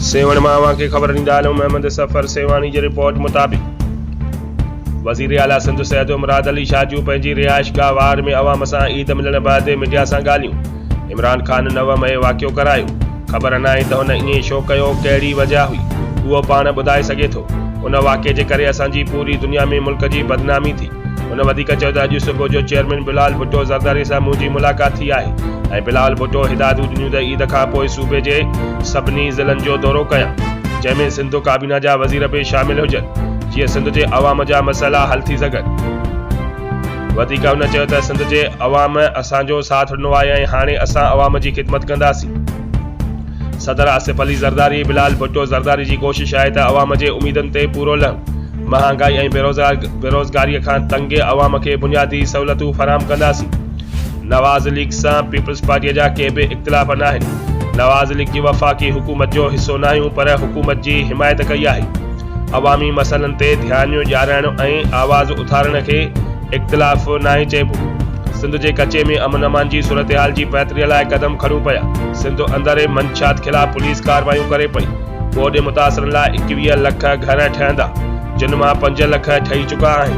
سيوهڻ مان اوهان کي خبر ڏيندا هلون محمد سفر سيوهاڻي جي رپورٽ مطابق وزير اعليٰ سنڌ سيد مراد علي شاجو پنهنجي رهائش گاهه واهر ۾ عوام سان عيد ملڻ بعد ميڊيا سان ڳالهيون عمران خان نو مئي واقعو ڪرايو، خبر ناهي ته هن ائين ڇو ڪيو، ڪهڙي وجه هئي، اهو پاڻ ٻڌائي سگهي ٿو. ان واقعي جي ڪري اسان جي پوري دنيا ۾ ملڪ جي بدنامي ٿي. هن وڌيڪ چيو ته اڄ صبح جو چيئرمين بلاول ڀٽو زرداري سان منهنجي ملاقات ٿي آهي ۽ بلاول ڀٽو هدايتون ڏنيون ته عيد کان پوء صوبي جي سڀني ضلعن جو دورو ڪيان، جنهن ۾ سنڌ ڪابينا جا وزير به شامل هجن، جيئن سنڌ جي عوام جا مسئلا حل ٿي سگهن. وڌيڪ هن چيو ته سنڌ جي عوام اسان جو ساٿ ڏنو آهي ۽ هاڻي اسان عوام جي خدمت ڪنداسين. صدر آصف علي زرداري بلال ڀٽو زرداري جي ڪوشش آهي ته عوام جي اميدن تي پورو لهن، مهانگائي ۽ بيروزگاري کان تنگ عوام کي بنيادي سهولتون فراهم ڪنداسين. نواز ليگ سان پيپلز پارٽي جا ڪي به اختلاف ناهن، نواز ليگ جي وفاقي حڪومت جو حصو ناهيون پر حڪومت جي حمايت ڪئي آهي. عوامي مسئلن تي ڌيانيون ڏيارائڻ ۽ آواز اٿارڻ کي اختلاف ناهي چئبو. سنڌ جي ڪچي ۾ امن امان جي صورتحال جي بهتري لاء قدم کڻيون پيا، سنڌ اندر منشيات خلاف پوليس ڪارروايون ڪري پئي، ٻوڏ متاثرن لاء ايڪويهه لک گهر ٺهندا، جن مان پنج لک ٺهي چڪا آهن.